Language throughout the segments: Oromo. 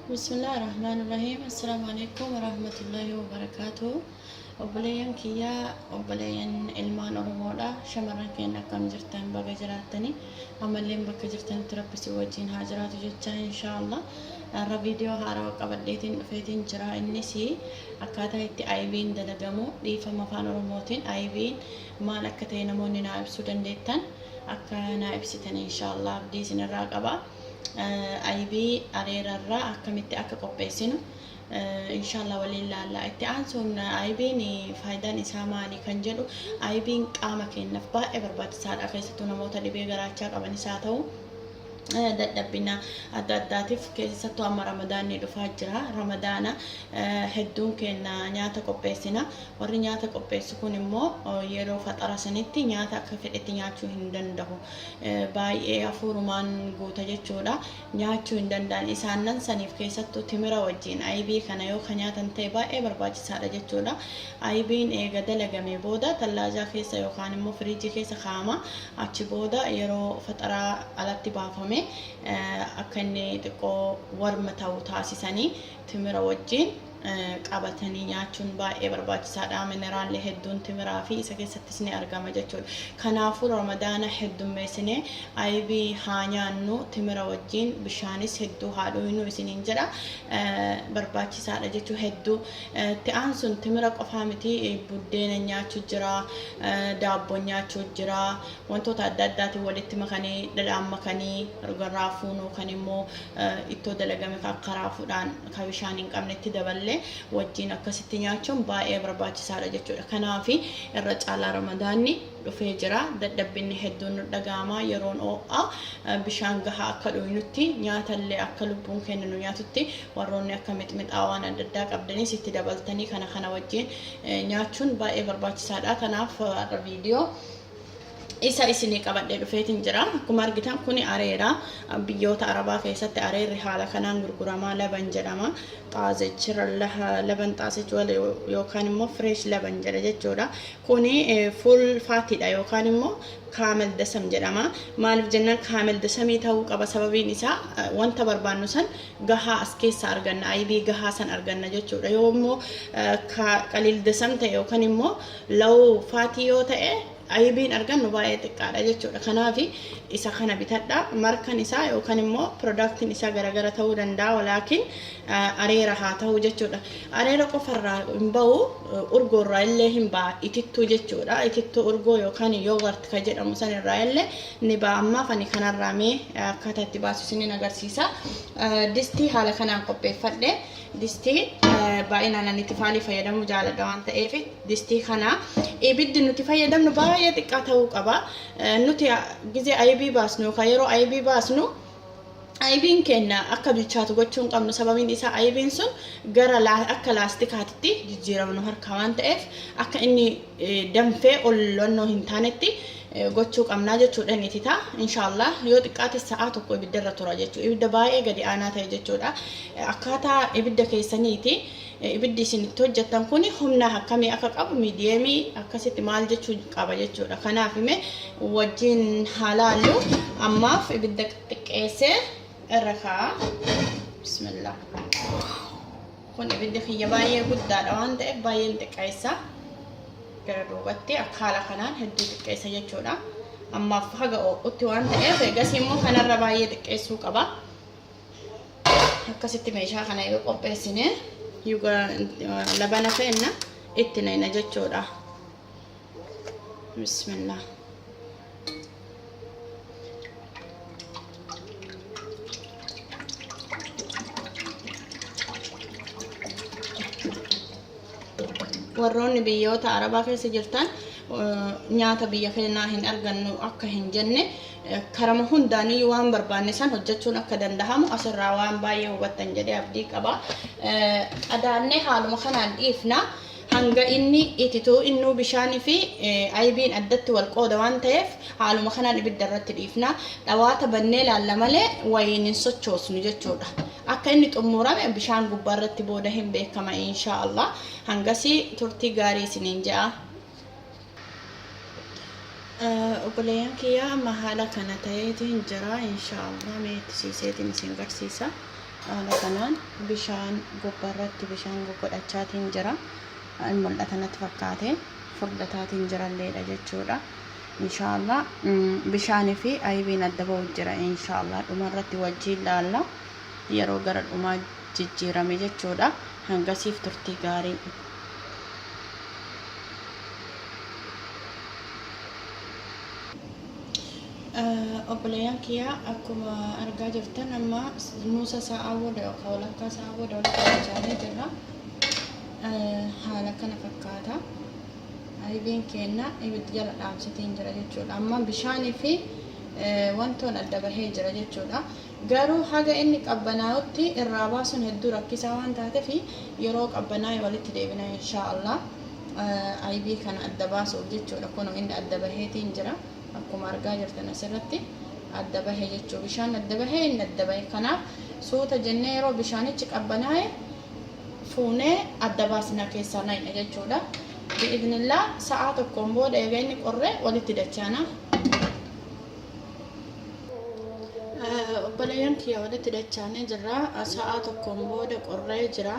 Bismillah ar-Rahmaan ar-Rahiim. Assalaamu alaikum wa rahmatullahi wa barakaatuhu. Obboleeyyan kiyyaa, obboleeyyan ilmaan Oromoodha. Shamarran keenya akkam jirtan baga jiraattanii. Amalleen bakka jirtanitti rabbi si wajjin haa jiraatu jecha inshaallah. Har'a viidiyoo haarawa qabadheetiin dhufeetiin jira. Innis akkaataa itti IV'n dalagamu dhiifama afaan Oromootiin IV'n maal akka ta'e namoonni naa ibsuu dandeettan. akka naa ibsitan inshaallah abdii isinirraa qaba aybii areerarraa akkamitti akka qopheessinu inshaallah waliin laalla itti aansuun aybiin faayidaan isaa maali kan jedhu aybiin qaama keenyaaf baay'ee barbaachisaadha keessattuu namoota dhibee garaachaa qabanis haa ta'u dadhabbina adda addaatiif keessattuu amma ramadaanni dhufaa jira ramadaana hedduun keenya nyaata qopheessina Warri nyaata qopheessu kun immoo yeroo faxara sanitti nyaata akka fedhetti nyaachuu hin dandahu. Baay'ee hafuurumaan guuta jechuudha. Nyaachuu hin danda'an. Isaannan saniif keessattuu timira wajjiin ayibii kana yoo ka nyaatan ta'e baay'ee barbaachisaadha jechuudha. Ayibiin eega dalagamee booda tallaajaa keessa yookaan immoo firiijii keessa kaa'ama. Achi booda yeroo faxaraa alatti baafame akka inni xiqqoo warm ta'u taasisanii timira wajjiin qabatanii nyaachuun baay'ee barbaachisaadha. Mineraalli hedduun timiraa fi isa keessattis ni argama jechuudha. Kanaafuu ramadaana heddummeessinee aybii haa nyaannu timira wajjin bishaanis hedduu haa dhuynu isiniin jedha. Barbaachisaadha jechuu hedduu. Itti aansuun timira qofaa miti buddeena nyaachuu jira, daabboo nyaachuu jira, wantoota adda addaatiin walitti makanii dhadhaan makanii raafuun yookaan immoo ittoo dalagame kan akka raafuudhaan ka bishaan hin qabnetti daballee wajjiin akkasitti nyaachuun baay'ee barbaachisaadha jechuudha. Kanaaf irra caalaa ramadaanni dhufee jira. Dadhabbinni hedduun nu dhaga'ama. Yeroon oo'a bishaan gahaa akka dhuynutti nyaatallee akka lubbuun keenya nu nyaatutti warroonni akka mixmixaa waan adda addaa qabdanis itti dabaltanii kana kana wajjiin nyaachuun baay'ee barbaachisaadha. Kanaaf har'a viidiyoo isa isinii qabadhee dhufeetiin jira. Akkuma argitan kuni areera. Biyyoota Arabaa keessatti areerri haala kanaan gurguramaa laban jedhama. Xaazech laban xaazech yookaan immoo fresh laban jedha jechuudha. Kuni full faatiidha yookaan immoo kaamel dasam jedhama. Maaliif jennaan kaamel dasamii ta'uu qaba sababiin isaa wanta barbaannu san gahaa as keessa arganna aybii gahaa san arganna jechuudha. Yoo immoo qaliil dasam ta'e yookaan immoo law faatii yoo ta'e Ayibiin argannu baay'ee xiqqaadha jechuudha. Kanaaf isa kana bitadha. Markan isaa yookaan immoo piroodaktiin isaa garagara ta'uu danda'a walaakin areera haa ta'uu jechuudha. Areera qofarraa hin ba'u urgoorraa illee hin ba'a itittuu jechuudha. Itittuu urgoo yookaan yoogart kan jedhamu sanirraa illee ni ba'a. Ammaaf ani kanarraa mee akkaataa itti baasu isiniin agarsiisa. Distii haala kanaan qopheeffadhe. Distii baay'inaan ani tifaalii fayyadamuu jaaladha waan ta'eef distii kana ibiddi nuti fayyadamnu baay'ee xiqqaa ta'uu qaba. Nuti gizee ayibii baasnu yookaan yeroo ayibii baasnu ayibiin keenya akka bilchaatu gochuu hin qabnu sababiin isaa ayibiin sun gara akka laastikaatitti jijjiirama nu harkaa waan ta'eef akka inni danfee ol lonnoo hin taanetti gochuu qabnaa jechuudha inni titaa inshaallah yoo xiqqaate sa'aa tokko ibidda irra tura jechuudha ibidda baay'ee gadi aanaa ta'e jechuudha akkaataa ibidda keessaniiti ibiddi isin itti hojjettan kun humna akkamii akka qabu miidiyeemii akkasitti maal jechuu qaba jechuudha kanaaf ime wajjiin haalaallu ammaaf ibidda xiqqeessee irra kaa'a bismillah Kun ibiddi kiyya baay'ee guddaadha waan ta'eef baay'een xiqqeessa. Gara duubatti akka haala kanaan hedduu xiqqeessa jechuudha. Ammaaf haga oo'utti waan ta'eef eegas immoo kanarra baay'ee xiqqeessuu qaba. Akkasitti meeshaa kana yoo qopheessine labana feenna itti nayna jechuudha. bismillah warroonni biyyoota arabaa keessa jirtan eh, nyaata biyya keenyaa hin argannu akka hin jenne eh, karama hundaanii waan barbaanne san hojjechuun akka danda'amu asirraa waan baay'ee hubattan jedhee abdii qaba. Eh, Adaannee haaluma kanaan dhiifna. Hanga inni ititu innuu bishaan fi aybiin addatti wal qooda waan ta'eef haaluma kanaan ibidda irratti dhiifna. Dhawaata bannee ilaalla malee wayiin hin sochoosnu jechuudha. Akka inni xummuurame bishaan gubbaa irratti booda hin beekama inshaa Allah. Hangasii turtii gaarii isiniin je'a. Obboleeyyan kiyya amma haala kana ta'eetiin jira inshaallah mee itti siiseetiin isin garsiisa haala kanaan bishaan gubbarratti bishaan guggodhachaatiin jira mul'ata natti fakkaate furdataatiin jiralleedha jechuudha inshaallah bishaanii fi aybiin adda ba'u jira inshaallah dhumarratti wajjiin laalla yeroo gara dhumaa jijjiirame jechuudha. Hangasiif turtii gaarii. Obboleeyyan kiyya akkuma argaa jirtan amma nuusa sa'aa booda yookaan walakkaa sa'aa booda walitti qabachaanee jirra. Haala kana fakkaata. Ayibiin keenna ibiddi jala dhaamsitiin jira jechuudha. Amma bishaanii fi wantoon adda bahee jira jechuudha. Garuu haga inni qabbanaa'utti irraa baasuun hedduu rakkisaa waan taatef yeroo qabbanaa'e walitti deebina inshaa allaah. Aybii kana adda baasuuf jechuudha. Kunoo inni adda baheetiin jira. Akkuma argaa jirtan asirratti adda bahe jechuu bishaan adda bahe inni adda bahe. Kanaaf suuta jennee yeroo bishaanichi qabbanaa'e fuunee adda baasna keessaa nayna jechuudha. Bi'idhnillaah sa'aa tokkoon booda eega inni qorre walitti dachaana. obboleeyyan kiyya walitti dachaanee jirra sa'aa tokkoon booda qorree jira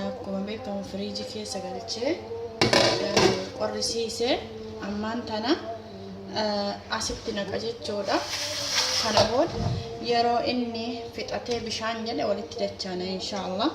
akkuma beekamu firiijii keessa galchee qorrisiise ammaan tana asitti naqa jechuudha kana booda yeroo inni fixatee bishaan jedhe walitti dachaana inshaallah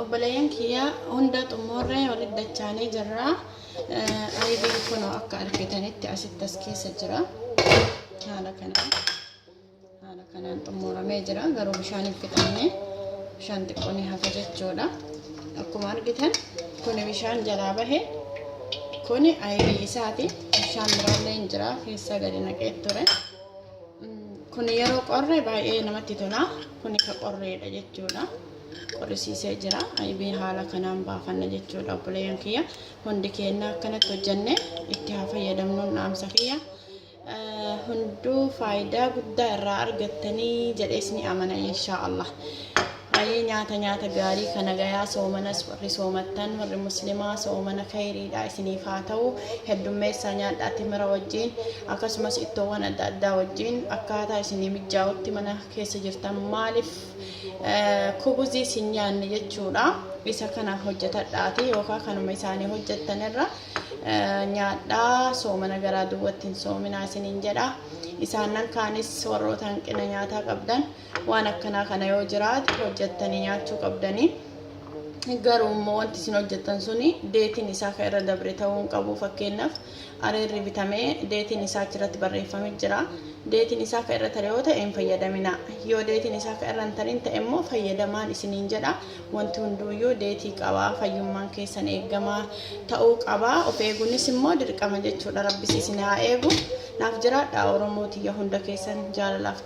Obboleeyyan kiyya hunda xummuurree walit dachaanee jirra. Ayibiin kunoo akka argitanitti asitti as keessa jira. Haala kanaan haala kanaan xummuramee jira. Garuu bishaan hin fixamne. Bishaan xiqqoo ni hafa jechuudha. Akkuma argitan kuni bishaan jalaa bahe. Kuni ayibii isaati. Bishaan biraallee hin jira. Keessa gadi naqee ture. Kun yeroo qorre baay'ee namatti tola. Kun ka qorreedha jechuudha. Qorrisiisee jira. Aybee haala kanaan baafanna jechuudha obboleeyyan kiyya. Hundi keenya akkanatti hojjenne itti haa fayyadamnuun dhaamsa kiyya. Eh, Hunduu faayidaa guddaa irraa argattanii jedhees ni amana inshaa Allah. Ayii nyaata nyaata gaarii ka nagayaa soomanas warri soomattan warri muslimaa soomana kayriidha isiniif haa ta'u heddummeessaa nyaadhaa timira wajjiin akkasumas ittoowwan adda addaa wajjiin akkaataa isinii mijjaa'utti mana keessa jirtan maalif kubuzii sin nyaanne jechuudha isa kana hojjetadhaati yookaan kanuma isaanii hojjettan irra nyaadhaa soomana garaa duwwatti hin soominaa isiniin jedha isaannan kaanis warroota hanqina nyaataa qabdan waan akkanaa kana yoo jiraate hojjettanii nyaachuu qabdanii garuu immoo wanti isin hojjettan suni deetiin isaa kan irra dabre ta'uu hin qabu fakkeenyaaf areerri bitamee deetiin isaa achirratti barreeffamee jira deetiin isaa kan irra tare yoo ta'e hin fayyadamina yoo deetiin isaa kan irra hin tarin ta'e immoo fayyadamaan isiniin jedha wanti hunduuyyuu deetii qabaa fayyummaan keessan eegamaa ta'uu qabaa of eeguunis immoo dirqama jechuudha rabbis isin haa eegu naaf jiraadha oromoo tiyya hunda keessan jaalalaaf